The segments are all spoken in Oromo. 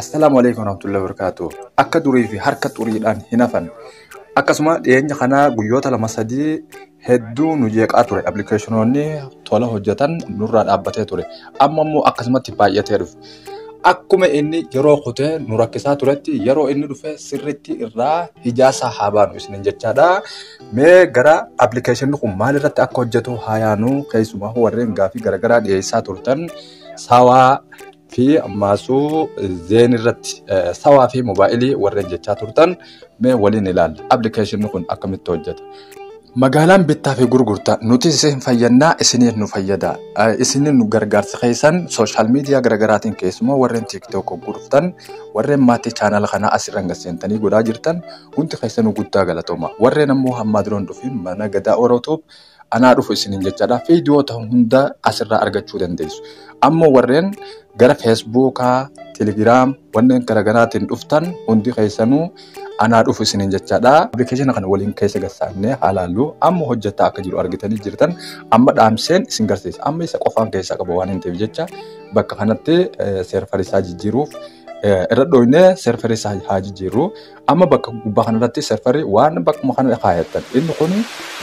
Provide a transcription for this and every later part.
Assalaamu alaikum warahmatullahi wabarakatuh. Akka durii fi harka xuriidhaan hin hafan. Akkasuma dhiyeenya kana guyyoota lama sadii hedduu nu jeeqaa ture. Appilikeeshinoonni tola hojjetan nurraa dhaabbatee ture. Amma immoo akkasumatti baay'atee dhufe. Akkuma inni yeroo kutee nu rakkisaa turetti yeroo inni dhufe sirriitti irraa hijaasaa haa baanu isiniin jechaadha. Mee gara appilikeeshinni kun maal irratti akka hojjetu haa yaanu keessumaa warreen gaafii garaagaraa dhiyeessaa turtan saawaa fi ammaasuu zeen irratti sawaa fi moobaayilii warreen jechaa turtan mee waliin ilaalla. Appilikeeshinni kun akkamitti hojjeta? Magaalaan bittaa fi gurgurtaa nuti isin fayyannaa isiniif nu fayyada. Isiniif nu gargaarsa keessan sooshaal miidiyaa garaagaraatiin keessumaa warreen tiiktook gurgurtan warreen maatii chaanala kanaa asirraan gad seentanii godhaa jirtan hundi keessanuu guddaa galatooma. Warreen ammoo hammaa duroon dhufiin mana gadaa Orootuub anaa dhufu isiniin jechaadha. Viidiyoota hunda asirraa argachuu dandeessu. Amma warreen gara Feesbuukaa, Telegiraam, wanneen garaagaraatiin dhuftan hundi keessanuu anaa dhufu isiniin jechaadha. Appilikeeshina kana waliin keessa galsaannee haalaallu amma hojjetaa akka jiru argitanii jirtan amma dhaamseen isin garsiisa. Amma isa qofaan keessaa qaba waan hin ta'eef jecha bakka kanatti seerfarisaa jijjiiruuf irra dhooynee seerfarisaa haa jijjiirru. Amma bakka gubbaa kanarratti serfarri waan bakkuma kana kaayattan inni kun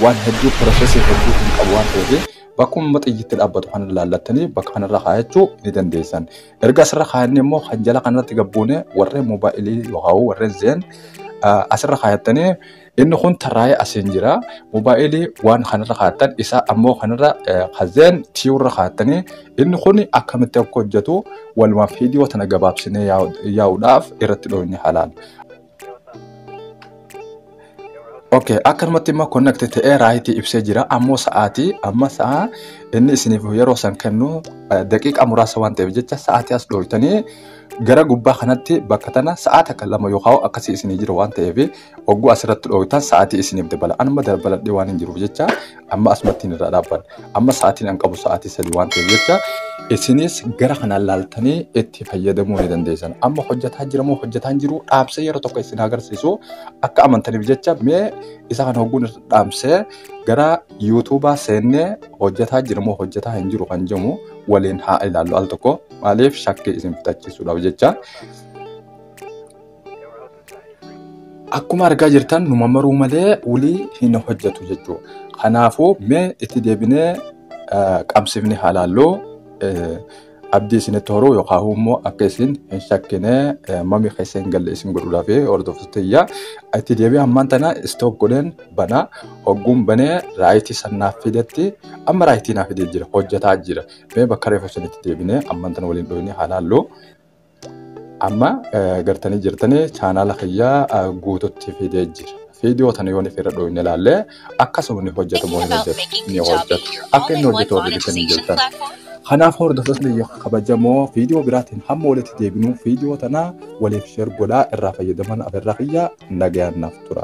waan hedduu piroosesii hedduu hin qabu waan ta'eef bakkuma xiyyitti dhaabbatu kana ilaallattanii bakka kanarra kaayachuu ni dandeessan. Erga asirra kaayannee immoo kan jala kanarratti gabbuunee warreen moobaayilii yookaan warreen zeen asirra kaayattanii inni kun tarraa'ee asiin jira. Moobaayilii waan kanarra kaayattan isaa ammoo kanarra kan zeen tiiwurra kaayattanii Inni kun akkamitti akka hojjetu walumaaf viidiyoo tana gabaabsinee yaa'uudhaaf irratti dhooyne halaal. Okay, akkanumatti immoo connect ta'ee raayitii ibsee jira. Ammoo sa'aatii amma sa'a inni isiniif yeroo san kennu daqiiqaa muraasa waan ta'eef jecha sa'aatii as dhooytanii gara gubbaa kanatti bakka tana sa'a takka lama yookaan akkasii isinii jira waan ta'eef Ogguu asirratti dhooytan sa'aatii isiniif dabala. Anuma dabaladhee waan hin jiruuf jecha amma asumattiin irraa dhaabban. Amma sa'aatiin an qabu sa'aatii sadii waan ta'eef jecha isinis gara kanaan laaltanii itti fayyadamuu ni dandeessan. Amma hojjetaa jira moo hojjetaa hin jiru dhaamsee yeroo tokko isin agarsiisu akka amantaniif jecha mee isa kan hogguun irra dhaamsee gara yuutuubaa seennee hojjetaa jira moo hojjetaa hin jiru kan jedhu waliin haa ilaallu al tokko maaliif shakkii isin fixachiisuudhaaf jecha. Akkuma argaa jirtan numa maruu malee wulii hin hojjetu jechuudha. Kanaafuu mee itti deebinee eh, qabsifni halaalloo eh, abdii isinitti horuu yookaan immoo akka isin hin shakkine eh, mami keessa hin galle isin godhuudhaaf hordoftoota iyyaa itti deebi'ee ammaan tana istoop godheen banaa hogguun banee raayitii sannaaf fidetti amma raayitii naaf fidee jira hojjetaa jira mee bakka reefu isinitti deebinee ammaan tana waliin dhufnee halaalloo Amma gartanii jirtanii chaanaala kiyyaa guututti fidee jira. Viidiyoo tana yoon irra dhooyne ilaalle akkasuma ni hojjeta moo hin hojjetu ni hojjeta. Akka inni hojjetu warri bitanii jirtan. Kanaaf hordoftoonni biyya kabajamoo viidiyoo biraatiin hamma walitti deebinuu viidiyoo tana waliif sheer godhaa irraa fayyadaman afeerraa kiyyaa nagayaan naaf tura.